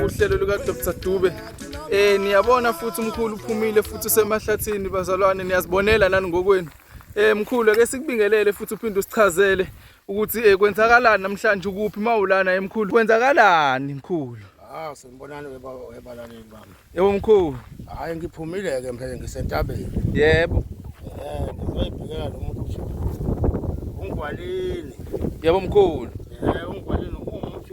uhlelo luka Dr Dube eh niyabona futhi umkhulu uphumile futhi usemahlathini bazalwane niyazibonela nani ngokwenu eh mkhulu ake sikubingelele futhi uphinde usichazele ukuthi eh kwenzakalani namhlanje ukuphi mawulana emkhulu eh, kwenzakalani mkhulu Ah sanibonani webalaleli bami. Yebo mkhulu. Hayi ngiphumile ke mphele ngisentabeni. Yebo. Eh ngizoyibhekela lo muntu ukuthi ungwalini. Yebo mkhulu. Eh ungwalini umuthi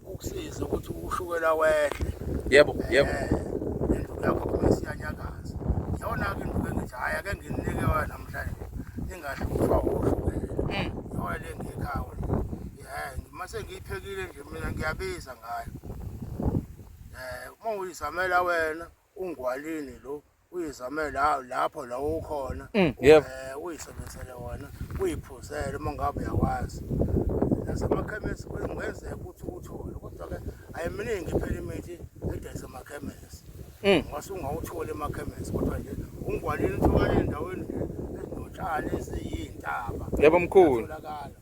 ukusiza ukuthi ushukela wehle yebo yebo induku yakho kuma isiyanyakaza yona-ke induku engithi hhayi ake nginike wa namhlanje ingahlutshwa ushukela yoyo le ngekhawo um uma sengiyiphekile nje mina ngiyabiza ngayo um uma uyizamela wena ungwalini lo uyizamele hawu lapho la ukhona Mm, yebo. eh, uyisebenzele wona uyiphuzele uma ngabe uyakwazi nasemakhemesi kungenzeka ukuthi uwuthole kodwa-ke ayiminingi phela imithi edayisa emakhemesi Mm. ngase ungawutholi emakhemesi kodwa nje ungwalini utholakala endaweni nje ezinotshani eziyintaba Yebo, mkhulu. Uyatholakala.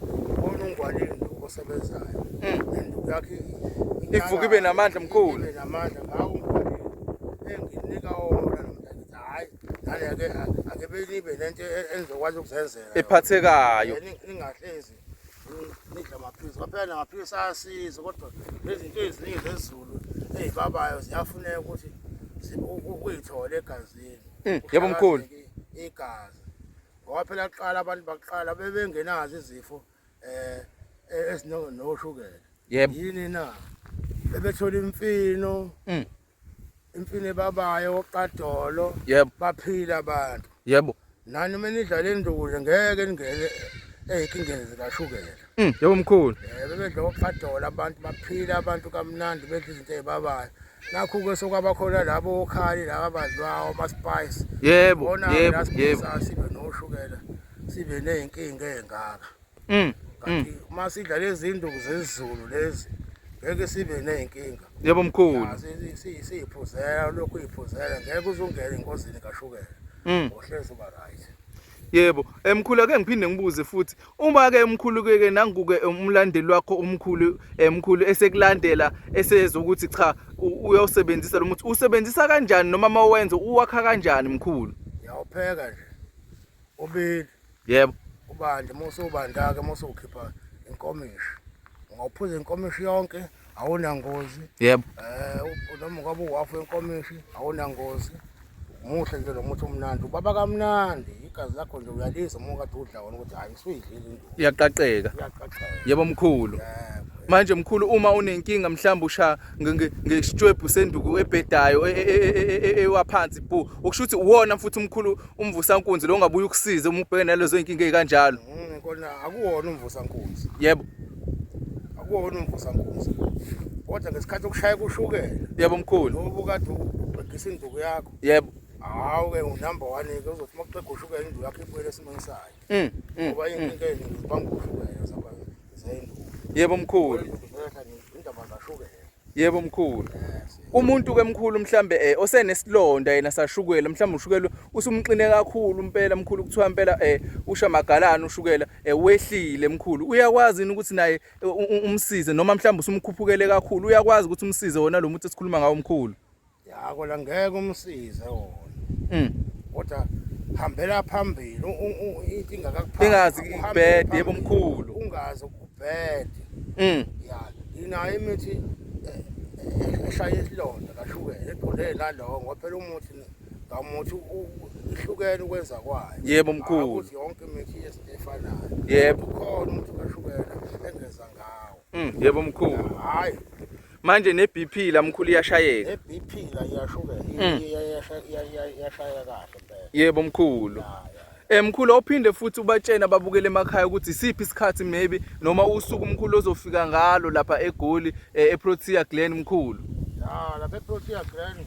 Ubona ungwanini lokho osebenzayo. Mm. And yakhe ivuka ibe namandla mkhulu. Ibe namandla ngawo ungwanini. Enginika wona nomntana. Hayi, nale yake ake belibe lento e-, engizokwazi ukuzenzela. Ephathekayo. Ningahlezi nidla amaphilisi kwaphela namaphilisi ayasiza kodwa nezinto eziningi zezulu ezibabayo ziyafuneka ukuthi uyithole egazini mm, yebo mkhulu igazi ngoba phela kuqala abantu bakuqala bebengenazo izifo eh esinoshukela yebo yini na bebethola imfino mm. imfino ebabayo oqadolo yebo baphila abantu yebo nani uma nidlala induku nje ngeke ningene ezinkingeni zikashukela mm, yebo mkhulu eh, bebedla oqadolo abantu baphila abantu kamnandi bedla izinto ezibabayo nakhu-ke sokwabakhona labo okhali laba badlwawo amaspice yebo bona yebo la yebo siphisa sibe noshukela sibe ney'nkinga ey'ngaka mm kanti uma sidla lezi zinduku zezulu lezi ngeke sibe ney'nkinga yebo mkhulu Ah, si- si- si- siyiphuzela lokhu uyiphuzela ngeke uzungene engozini kashukela mm uhlezi uba right yebo emkhulu ake ngiphinde ngibuze futhi uma ke umkhulu ke nangu ke umlandeli wakho umkhulu emkhulu eh, esekulandela eseza ukuthi cha uyosebenzisa lo muthi usebenzisa kanjani noma mawenza uwakha kanjani mkhulu yawupheka nje ubili yebo ubande musu ubandake musu ukhipha inkomishi ngawuphuza inkomishi yonke awunangozi yebo eh noma ngabe uwafu enkomishi awunangozi muhle nje lo muthi umnandi ubaba kamnandi igazi lakho nje uyalisa uma kade udla wona ukuthi hayi suyidlile into iyaqaqeka yebo mkhulu manje mkhulu uma unenkinga mhlawumbe usha ngesitshwebhu senduku ebhedayo ewaphansi bu ukusho ukuthi uwona mfuthi umkhulu umvusankunzi lo ungabuye ukusize uma ubhekene nalezo inkinga ezikanjalo mm, kona akuwona umvusankunzi yebo akuwona umvusankunzi kodwa ngesikhathi okushaya kushukela yebo mkhulu ngoba ukade ubhekisa induku yakho yebo hawu ke unumber 1 ke uzothi makuxega ushukela induku yakho ibuyele esimweni sayo mm, mm, ngoba mm. inkinga yenu banga ushukela zabantu zayinduku yebo mkhulu indaba zashukela Yebo mkhulu. Umuntu ke mkhulu mhlambe eh osenesilonda yena sashukela mhlambe ushukela usumxine kakhulu impela mkhulu kuthiwa impela eh usha magalana ushukela eh wehlile mkhulu uyakwazi ukuthi naye eh, umsize noma mhlambe usumkhuphukele kakhulu uyakwazi ukuthi umsize wona lo muntu esikhuluma ngawo mkhulu. ya kona ngeke umsize wona Mm. kodwa hambela phambili u- u- u- into ingakakuphathi. Ingazi Uhambe ibhede, phambili, yebo mkhulu. ungazi ukubhede Mm. ya inayo imithi eh, eh, eshaya isilonda kashukela egqoleni nalowo ngoba phela umuthi ne- ngamuthi u- u- ihlukene ukwenza kwayo Yebo, mkhulu. Hhayi ukuthi yonke imithi yesintu efanayo Yebo. ukhona umuthi kashukela engeza ngawo Mm. Yebo mkhulu. hhayi manje ne-bp la mkhulu iyashayeka ne-bp la iyashukela mm. iyashayeka kahle mpela yebo mkhulu Eh mkhulu ophinde futhi ubatshena babukele emakhaya ukuthi isiphi isikhathi maybe noma usuku mkhulu ozofika ngalo lapha eGoli eh, eProtea Glen mkhulu. Ah lapha eProtea Glen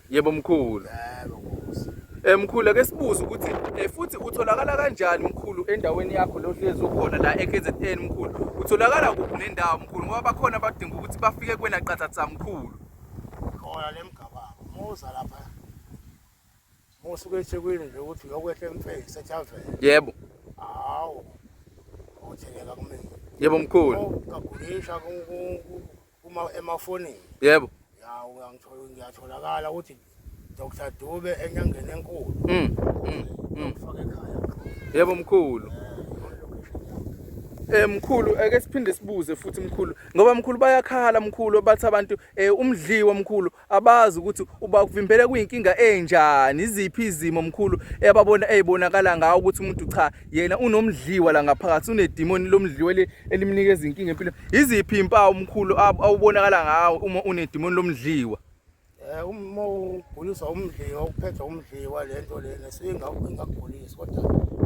Yebo mkhulu. Yebo nkosi. Eh mkhulu ake sibuze ukuthi eh futhi utholakala kanjani mkhulu endaweni yakho lo hlezi ukhona la eKZN mkhulu. Utholakala kuphi nendawo mkhulu ngoba bakhona abadinga ukuthi bafike kwena qathatha mkhulu. Khona lemgababa. Muza lapha. Musuke eThekwini nje ukuthi uyokwehla eMfesi eTavern. Yebo. Hawu. Utheleka kumina. Yebo mkhulu. Kagulisha ku uma emafonini yebo ya uyangithola ngiyatholakala ukuthi Dr Dube enyangeni enkulu mm mm, mm. ufake ekhaya yebo mkhulu Eh mkhulu ake siphinde sibuze futhi mkhulu ngoba mkhulu bayakhala mkhulu bathi abantu eh umdliwa mkhulu abazi ukuthi ubakuvimbele kuyinkinga enjani iziphi izimo mkhulu eyababona eyibonakala ngawo ukuthi umuntu cha yena unomdliwa la ngaphakathi unedimoni lomdliwa elimnikeza inkinga empilo iziphi impawu mkhulu awubonakala ngawo uma unedimoni lomdliwa eh uma uguliswa umdliwa ukuphetha umdliwa lento lena singakugulisa Kodwa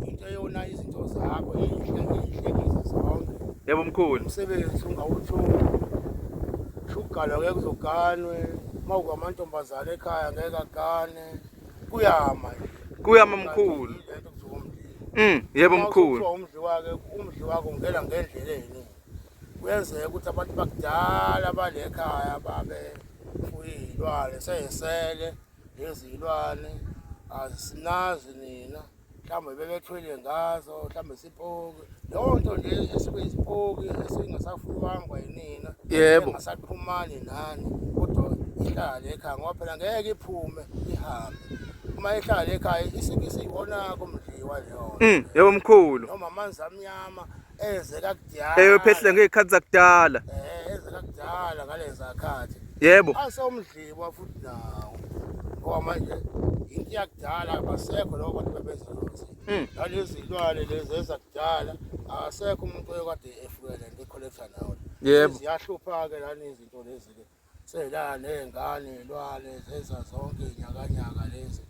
into eyona izinto zakho inhle inhle kizo zonke. Yebo mkhulu. Umsebenzi ungawutholi. Shugalwa ngeke uzoganwe. Uma ukwamantombazane ekhaya ngeke agane. Kuyama nje. Kuyama mkhulu. Mm, yebo mkhulu. Umdli wake, umdli wako ngela ngendlela yini. Kuyenzeka ukuthi abantu bakudala balekhaya babe uyilwane seyesele. nezilwane asinazi nina mhlawumbe bebethwele ngazo mhlawumbe sipoki leyo nto nje esibe isipoki esingasafuywangwa yinina yebo ngasaxhumani nani kodwa ihlale ekhaya ngoba phela ngeke iphume ihambe uma ihlale ekhaya isike isiyiwonako mdliwa leyo mm, yebo mkhulu noma amanzi amnyama eze kakudala eyophehle ngey'khathi zakudala eh, eze kakudala ngaleza khathi yebo asewumdliwa futhi nawo ngoba manje into yakudala abasekho loko bantu bebenza lothi hmm. nalezi zilwane lezi ezakudala akasekho umuntu oyekade efukele nto ekholektha nawo yebo ziyahlupha-ke lani izinto lezi-ke Sela ney'ngane lwale zenza zonke nyakanyaka lezi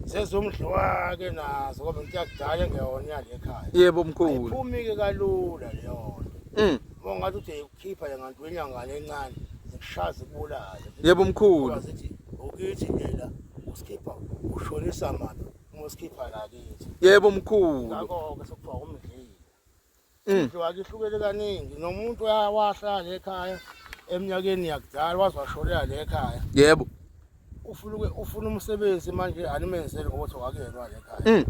sezumdliwake nazo kodwa into yakudala engeyona yale ekhaya yebo mkhulu ayiphumi-ke kalula leyo nto Mm. uma ungathi ude ikukhipha le nganti wenyangane encane zikushaze kubulale yebo mkhulu Ngoba zithi ukithi lela usikhipha ushonisa maphi uma usikhipha lakithi yebo mkhulu ngakho-ke sekuthiwa umdlile Mm. Indlu akihlukele kaningi nomuntu wahlala le khaya eminyakeni yakudala waze washolela le khaya. Yebo. Ufuna uke- ufuna umsebenzi manje animenzele ukuthi wakuyelwa le khaya. Mm.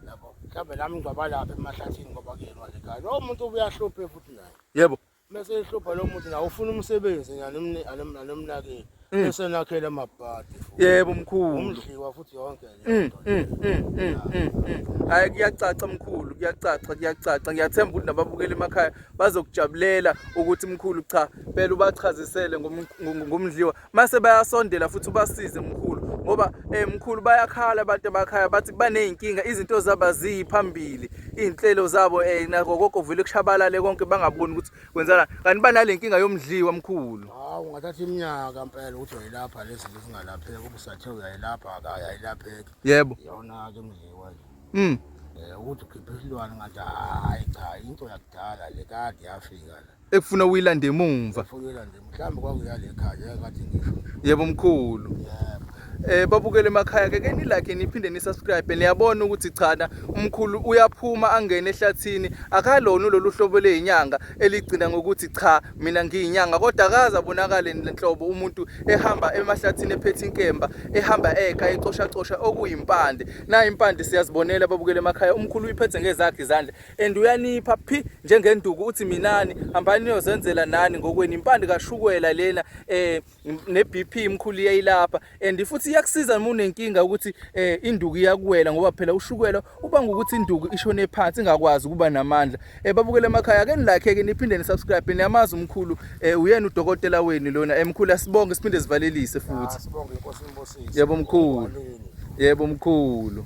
Yabo. Mhlawumbe nami ngingaba lapha emahlathini ngoba kuyelwa le khaya. Lowo muntu ubuyahluphe futhi naye. Yebo. Mese ehlupha lo muntu nawe ufuna umsebenzi nje anomni- anom- anomnakile. Mm. esenakhela amabhadi yebo mkhulu umdliwa futhi yonke mm, mm, hayi kuyacaca mkhulu kuyacaca kuyacaca ngiyathemba ukuthi nababukeli emakhaya bazokujabulela ukuthi mkhulu cha phela ubachazisele ngomdliwa mase bayasondela futhi ubasize mkhulu ngoba eh mkhulu bayakhala abantu emakhaya bathi baneyinkinga izinto zaba ziphambili izinhlelo zabo eh nako konke vele kushabalale konke bangaboni ukuthi Kwenzala kanti banalenkinga yomdliwa mkhulu. Hawu ngathatha iminyaka mpela ukuthi uyilapha lezi zingalapheki ubusathe uyayilapha akayayilapheki. Yebo. Yona ke mdliwa nje. Mm. Eh ukuthi ukhiphe isilwane ngathi hayi cha into yakudala le kade yafika la. Ekufuna uyilande emumva. Ufuna uyilande mhlawumbe kwakuyale ekhaya yakathi ngisho yebo mkhulu yebo eh babukele emakhaya ke keni like niphinde ni subscribe niyabona ukuthi chana umkhulu uyaphuma angene ehlathini akalona lolu hlobo lezinyanga eligcina ngokuthi cha mina ngiyinyanga kodwa akaza bonakale lenhlobo umuntu ehamba emahlathini ephethe inkemba ehamba eka ecosha cosha okuyimpande na impande siyazibonela babukele emakhaya umkhulu uyiphethe ngezakhe izandla and uyanipha phi njengenduku uthi minani hambani niyozenzela nani ngokweni impande kashukwela lena eh ne BP imkhulu yayilapha and futhi iyakusiza uma unenkinga ukuthi eh induku iyakuwela ngoba phela ushukela ubanga ukuthi induku ishone phansi ingakwazi ukuba namandla eh babukele emakhaya ke nilike ke niphinde ni subscribe niyamazi umkhulu eh uyena udokotela wenu lona emkhulu eh, asibonge siphinde sivalelise futhi ah, sibonge inkosi imbosisi yebo mkhulu yebo mkhulu